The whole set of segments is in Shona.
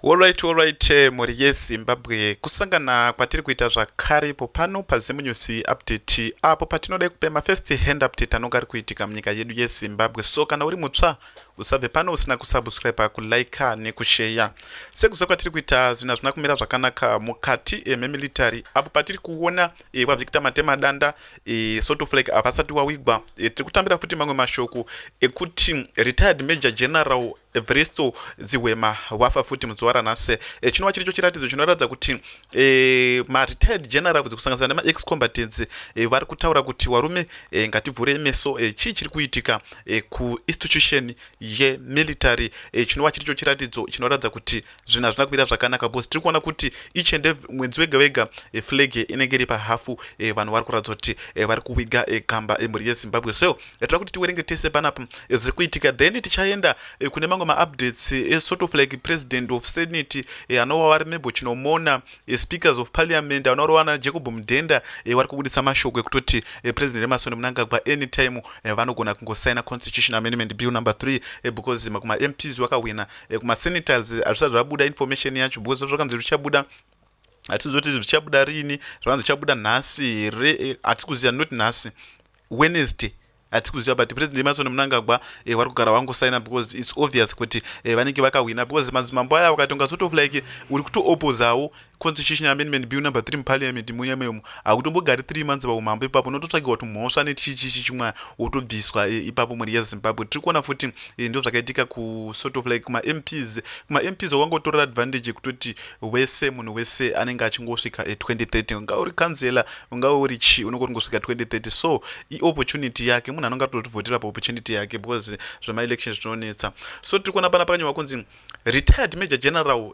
Horyt horyt mhuri yeZimbabwe kusangana kwatiri kuita zvakare ipo pano paZimunews update apo patinodai kupe mafirst hand update anonga ari kuitika munyika yedu yeZimbabwe so kana uri mutsva usabve pano usina kusubscribe kulike nekusheya sekuziva kwatiri kuita zvinhu hazvina kumira zvakanaka mukati eh, memilitary apo patiri kuona eh, kwavictor matemadanda eh, soto flag havasati wawigwa tiri kutambira futi mamwe mashoko ekuti retired major general Evristo Dzihwema wafa futi muzuva ranhasi e, chinova chiricho chiratidzo chinoratidza kuti e, maretired generals kusanganisira nemaex combatants e, eh, vari kutaura kuti warume e, ngativhurei meso e, chii chiri kuitika e, kuinstitution yemilitary e, chinova chiricho chiratidzo chinoratidza kuti zvinhu hazvina kumira zvakanaka because tiri kuona kuti each and every mwedzi wega wega eh, flag eh, inenge iri pahafu eh, vanhu vari kuratidza kuti vari kuwiga gamba mhuri yezimbabwe so tira kuti tiwerenge tese panapa zviri kuitika then tichaenda kune mamwe maupdates esort of like president of senate anowa vari mebo chinomona speakers of parliament anorova na jacob mudhenda vari kubuditsa mashoko ekutoti president emasoni munangagwa anytime vanogona kungosaina constitution amendment bill number 3 because makuma mps wakahwina eh, kumasenators hazvisati zvabuda information yacho because zvakanzi zvichabuda hatizivi kuti zvichabuda riini zvakanzi zvichabuda nhasi here eh, hatisi kuziva not nhasi wednesday hatisi kuziva but president emasoni munangagwa eh, vari kugara vangosaina because its obvious kuti eh, vanenge vakahwina because madzimambo aya vakatonga sort of like uri kutoopozawo Constitution Amendment Bill number 3 muParliament muya meumu hakutombogari 3 months paumambo ipapo unototsvagirwa tumhosva nechichichi chimwa wotobviswa e, ipapo mhuri yeZimbabwe tiri kuona futi e, ndizvo zvakaitika kusort of like kumaMPs kumaMPs wakangotorera advantage yekutoti wese munhu wese anenge achingosvika 2030 e, ungave uri kanzela ungave uri chi unenge uringosvika 2030 so iopportunity yake munhu anonge atotivhotera paopportunity yake because zvemaelection zvinonetsa so tiri kuona pana pakanyorwa kunzi retired major general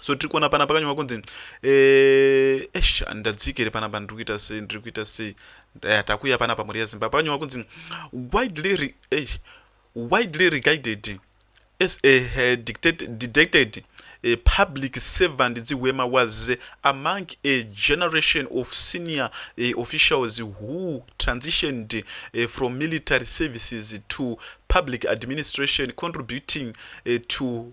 so tiri kuona panapa kanyuma kunzi eh, esh handidadzike here panapa ndiri kuita sei ndiri kuita sei eh, takuya panapa mhuri yezimbabwe pakanyuma kunzi widely eh, widely regarded as a eh, dictated, dictated a public servant Ziwema was among a generation of senior eh, officials who transitioned eh, from military services to public administration contributing eh, to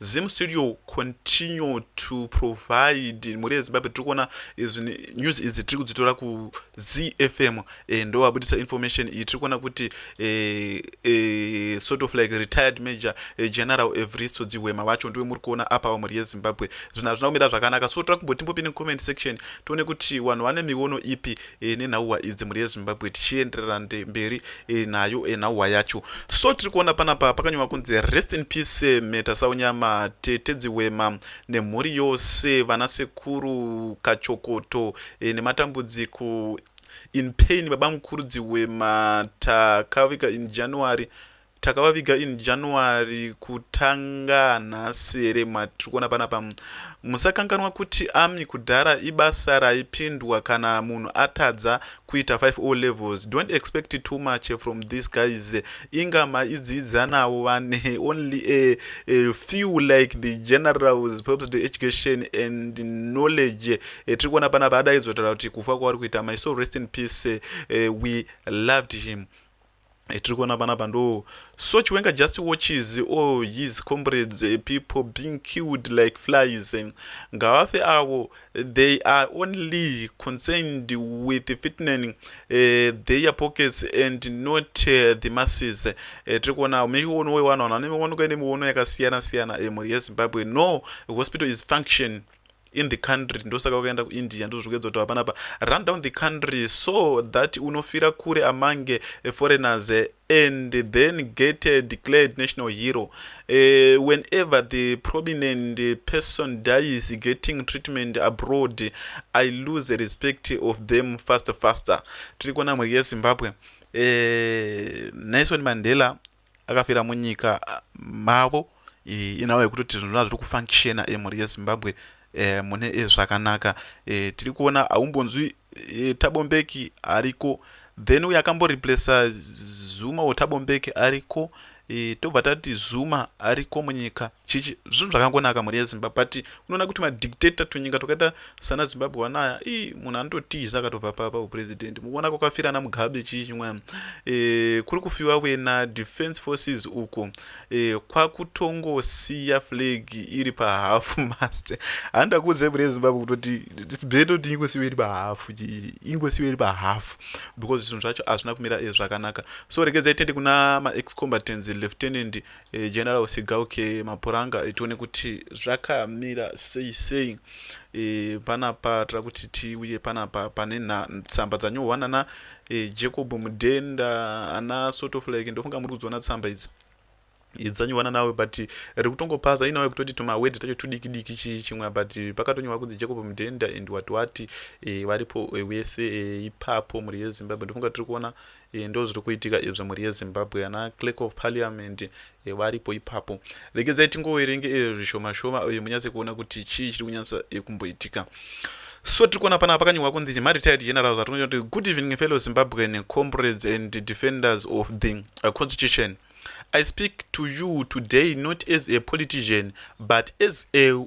Zim studio continue to provide mhuri yezimbabwe tiri kuona news idzi tiri kudzitora kuzfm eh, ndo vabudisa information iyi tiri kuona kuti eh, eh, sort of like retired major general evristo dzihwema vacho ndiwe muri kuona apa vamhuri yezimbabwe zvinhu hazvina kumira zvakanaka so tira kumbotimbopine comment section tione kuti vanhu vane miono ipi e, nenhauwa idzi mhuri yezimbabwe tichienderera mberi e, nayo e, nhauwa yacho so tiri kuona panapa pakanyorwa kunzi rest in peace metasaunyama tete dziwema nemhuri yose vana sekuru kachokoto e, nematambudziko in pain baba mukuru dziwema takaviga in january Takavaviga in January kutanga nhasi here matiri kuona panapa. Musakanganwa kuti army kudhara ibasa raipindwa kana munhu atadza kuita 5 o levels. Don't expect too much from these guys. Inga maidzidza navo vane only a, a few like the generals perhaps the education and knowledge. Eh, tiri kuona panapa adaidzotara kuti kufa kwavari kuita my so rest in peace. Eh, we loved him. etiri kuona panapa ndo so chiwenga just watches all oh, his comrades eh, people being killed like flies eh. ngavafe avo they are only concerned with fitning uh, eh, their pockets and not uh, the masses tiri kuona miono wewanhu vanhu vane miono kaine miono yakasiyana siyana emhuri yezimbabwe no hospital is function in the country ndosaka wakaenda kuindia ndozvikuedza kutaura panapa run down the country so that unofira kure amange foreigners eh, and then get eh, declared national hero uh, whenever the prominent person dies getting treatment abroad i lose the respect of them faster faster tiri kuona mhuri yezimbabwe uh, nelson mandela akafira munyika ah, mavo inhau yekutoti zvinhu zvazviri kufunctiona emhuri eh, yezimbabwe eh, mune eh, zvakanaka tiri kuona aumbonzwi tabombeki ariko then uye akamboreplacea zuma wetabombeki ariko tobva tati zuma ariko munyika chichi zvinhu zvakangonaka mhuri yezimbabwe but unoona kuti madictator tunyika twakaita Sana Zimbabwe wanaya ii munhu anototiza akatobva pa pa president mukuona kwakafira na Mugabe chii chimwana eh kuri kufiwa wena defense forces uko eh kwakutongosiya flag iri pa half mast handa kuze bure Zimbabwe kutoti it's better to ingosiwa iri pa half ingosiwa iri pa half because zvinhu zvacho azvina kumira eh, zvakanaka so regedza itende kuna ma ex combatants lieutenant Eh, general usigauke mapuranga eh, tione kuti zvakamira sei sei e, panapa tira kuti tiuye panapa pane tsamba dzanyohwa nana e, jacob mudenda ana sort of like ndofunga muri kudziona tsamba idzi dzanyuwana nawe but ri kutongopaza inawe kutoti tumawedhi tacho tudiki diki chii chimwe but pakatonyorwa kunzi jacob mudenda and wati wati e, varipo e, wese e, ipapo mhuri yezimbabwe ndofunga tiri kuona e, ndo zviri kuitika izvo mhuri yezimbabwe ana clerk of parliament e, varipo ipapo regedzai tingoverenge e, zvishoma shoma e, munyatse kuona kuti chii chiri kunyatsa e, kumboitika so tiri kuona panapa pakanyorwa kunzi maretired generals atinonyora kuti good evening fellow zimbabwean comrades and defenders of the uh, constitution i speak to you today not as a politician but as a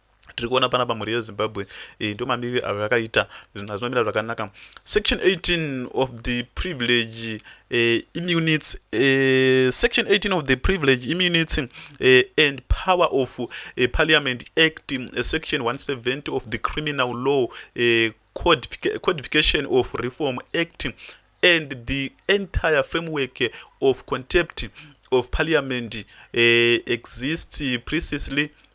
tiri kuona panapa mhuri yezimbabwe e, ndo mamiriro avo yakaita zvinhu hazvinomira zvakanaka section 18 of the privilege e, immunits e, section 18 of the privilege immunits e, and power of e, parliament act e, section 170 of the criminal law e, codification of reform act and the entire framework of contempt of parliament e, exists precisely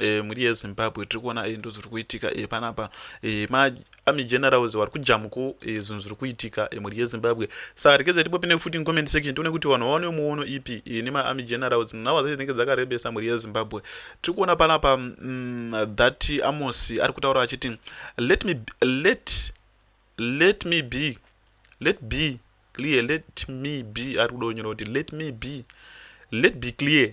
e, mhuri yezimbabwe tiri kuona e, ndozviri kuitika e, panapa e, maarmy generals vari kujamuko e, zvinhu zviri kuitika e, mhuri yezimbabwe saka rekedza tipope nefuti incomment section tione kuti vanhu vaone muono ipi e, nemaarmy generals nhau dzacho dzinenge dzakarebesa mhuri yezimbabwe tiri kuona panapa mm, that amosi ari kutaura achiti let me, let, let me be let be clear let me be ari kuda kunyora kuti let me be let be clear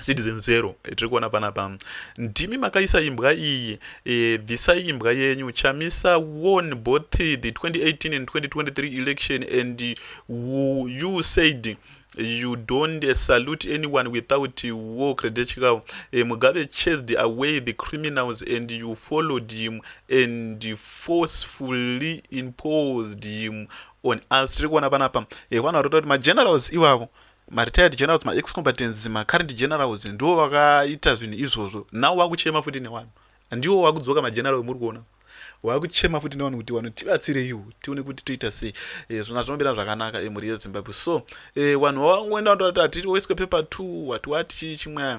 citizen zero eh, tiri kuona panapa ndimi makaisa imbwa iyi e, bvisai imbwa yenyu chamisa won both the 2018 and 2023 election and you, you said you don't uh, salute anyone without uh, war credential uh, mugabe chased away the criminals and you followed him and forcefully imposed him on us tiri kuona panapa eh, vanhu vari kuta kuti magenerals ivavo maretired generals maex combatants macurrent generals ndiwo vakaita zvinhu izvozvo now vakuchema futi newanhu ndiwo wakudzoka mageneral muri kuona wakuchema futi nevanhu kuti vanhu tibatsireiwo tione kuti toita sei eh, zvona zvinomira zvakanaka emhuri eh, yezimbabwe so eh, vanhu vavangoenda vatoati hatiri waiswe paper two wati wati chii chimwe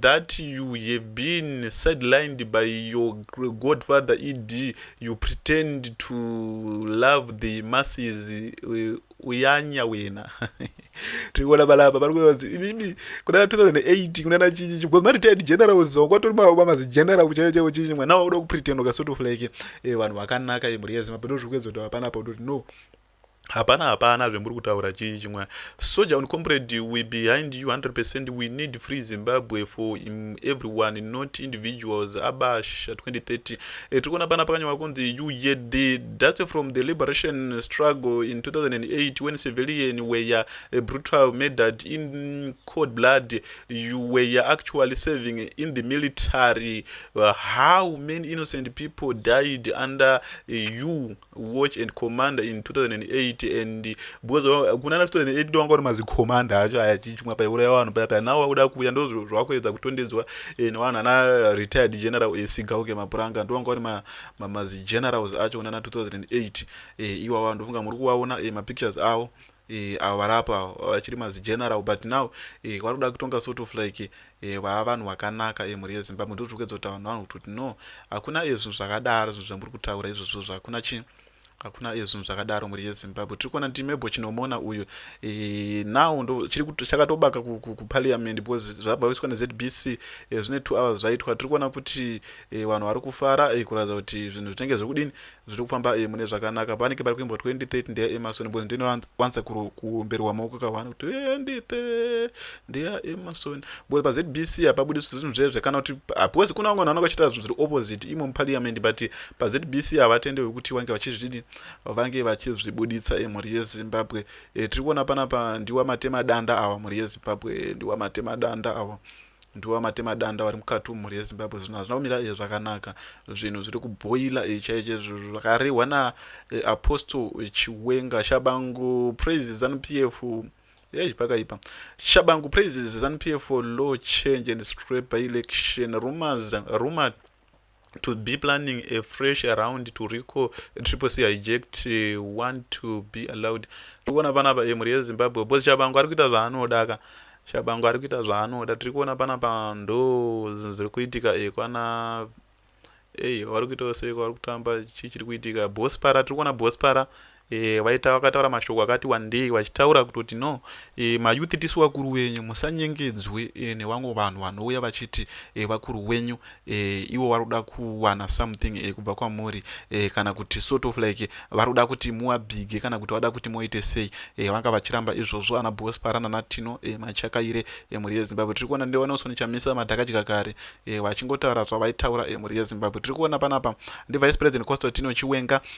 that you have been sidelined by your godfather ed you pretend to love the masses uh, uyanya wena tikuona balapa pari kuvanzi inini kuna 2008 kuna na chichi because ma retired general zongo atori mavo bamazi general kuchaiva chaivo chichi mwana wauda kupretend uka sort of like eh, vanhu vakanaka imhuri yezimabhendo zviri kuedza kuti vapana pa udoti no Hapana hapana zvemuri kutaura chii chimwa soja on comrade we behind you 100% we need free Zimbabwe for everyone not individuals abasha 2030 e, tiri kuona pana pakanyorwa kunzi UJD that's from the liberation struggle in 2008 when civilian were uh, brutal murdered in cold blood you were actually serving in the military uh, how many innocent people died under uh, you watch and commander in 2008 and because kuna 2008 ndowanga uri mazicommander acho aya chichimwa paiuraya vanhu paya paya nawo wakuda kuuya ndo zvakuedza kutondedzwa eh, nevanhu ana retired general esigauke eh, mapuranga ndowanga uri mazigenerals acho kunana 2008 eh, iwawa ndofunga muri kuvaona mapictures avo eh, avo vari apa avo vachiri mazigeneral but now eh, vari kuda kutonga sort of like eh, vava vanhu vakanaka eh, mhuri yezimbabwe ndozviri kuedza kutaura vanhu vanhu kuti no hakuna eh, zvinhu zvakadaro zvinhu zvamuri kutaura izvozvo zvakuna chii hakuna iye zvinhu zvakadaro mhuri yezimbabwe tiri kuona ndimebo chinomona uyu e, now ndo chakatobaka kuparliament because zvabva kuiswa nezbc e, zvine two hours zvaitwa tiri kuona kuti e, vanhu vari kufara e, kuratidza kuti zvinhu zvinenge zvekudini zviri kufamba eh, mune zvakanaka vanenge vari kuimbwa 2030 ndeya emasoni bcoz ndinowanza kuomberwa maoko kavana kuti 2030 ndeya emasoni bcoz pazbc hapabudi zvinhu zvezve kana kuti bcoz kuna vamwe vanhu vanenge vachiita zvinhu zviri opposite imo muparliament but pazbc havatende vekuti vange vachizvidii vange vachizvibuditsa emhuri eh, yezimbabwe eh, tiri kuona panapa ndiwa matemadanda awa mhuri yezimbabwe ndiwa matemadanda awa Ndiwo amatema danda vari mukati umu mhuri yezimbabwe zvinhu hazvina kumira eh, zvakanaka zvinhu zviri kuboila eh, chaiche zvakarehwa naapostle eh, chiwenga shabangu praise zanupf yei pakaipa shabangu praises zanupf for law change and straight by election rumors rumored to be planning a fresh around to rico triple c hijacked one to be allowed tikuona panapa e eh, mhuri yezimbabwe bcause chabango ari kuita zvaanoda ka chabango ari kuita zvaanoda tiri kuona panapa ndo zviri kuitika e kwana ei vari kuitawo seiko vari kutamba chii chiri kuitika bospara tiri kuona bospara Eh, vaita vakataura mashoko akati wandei vachitaura kutoti no e, mayouth tisu vakuru wenyu musanyengedzwe e, nevamwe vanhu vanouya vachiti e, vakuru wenyu e, ivo vari kuda kuwana something e, kubva kwamuri e, kana kuti sort of like vari kuda kuti muwabhige kana kuti vada kuti muite sei e, vanga vachiramba izvozvo ana bospara nanatino e, machakaire e, mhuri yezimbabwe tiri kuona ndevanosoni chamisa madhakadya kare e, vachingotaura zvavaitaura e, mhuri yezimbabwe tiri kuona panapa ndivice president constantino chiwenga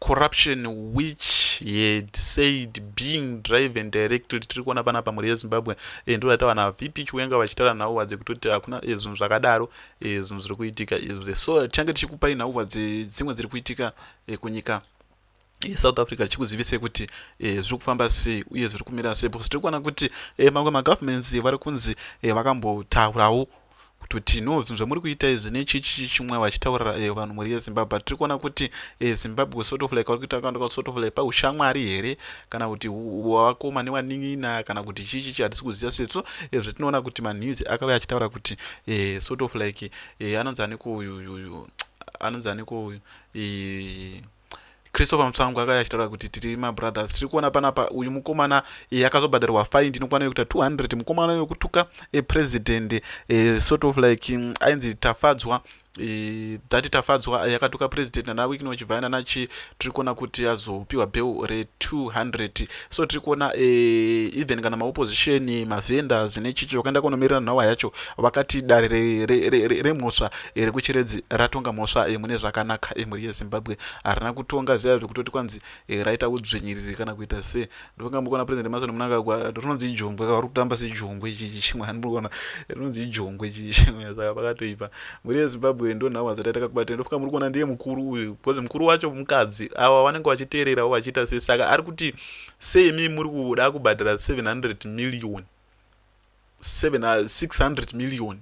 corruption which he had said being drive and directed tiri kuona pana pamhuri yezimbabwe e, ndo ratawana vp chiwenga vachitaura nhauwa dzekutoti hakuna e, zvinhu zvakadaro e, zvinhu zviri kuitika izvi so tichange tichikupai nhauwa dzimwe dziri kuitika e, kunyika south africa chikuzivisei kuti eh, zviri kufamba sei uye zviri kumira sei because tiri kuona kuti eh, mamwe magovernments eh, vari kunzi eh, vakambotaurawo kutoti no zvinhu zvamuri kuita izvi nechichi chimwe vachitaurira eh, vanhu mhuri yezimbabwe but tiri kuona kuti eh, zimbabwe sort of like vari kuita kanda kwasort of like paushamwari here kana kuti wakoma newanin'ina kana kuti chii chichi hatisi kuziva setso eh, zvatinoona kuti manhizi akave achitaura kuti eh, sort of like eh, anonzi aniko uyu uyu anonzi aniko uyu eh, christopher mutsvangu akauya achitaura kuti tiri mabrothers tiri kuona panapa uyu mukomana e, akazobhadharwa fine ndinokwana yokuita 200 mukomana yokutuka e, president e, sort of like mm, ainzi tafadzwa e, dati tafadzwa yakatuka president nanawickno chivhaina nachi tiri kuona kuti azopiwa bheu re 200 so tiri kuona eh, even kana maopposition mavendors nechichi vakaenda kunomirira nhawa yacho vakati dare remhosva eh, rekuchiredzi ratonga mhosva eh, mune zvakanaka mhuri yezimbabwe harina kutonga zviya zvekutoti kwanzi raita udzvinyiriri kana kuita se ndokunga mukuona president mason munangagwa rinonzi ijongwe kavari kutamba sejongwe chichi chimwe hanikuona rinonzi ijongwe chichi saka pakatoipa mhuri yezimbabwe ndo nhau hadzati ataka kubata ndofunga muri kuona ndiye mukuru uyu because mukuru wacho mukadzi ava vanenge vachiteererawo vachiita sei saka ari kuti seimi muri kuda kubhadhara 700 million 600 million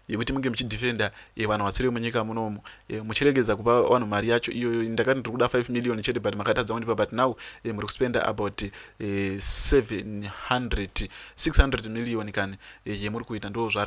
yekuti munge muchidefenda eh, vanhu vasiri munyika munomu eh, muchiregedza kupa vanhu mari yacho iyoyo ndakati ndiri kuda 5 million chete but makatadza kundipa but now eh, muri kuspenda about 700 600 million kani yemuri kuita ndo zvaari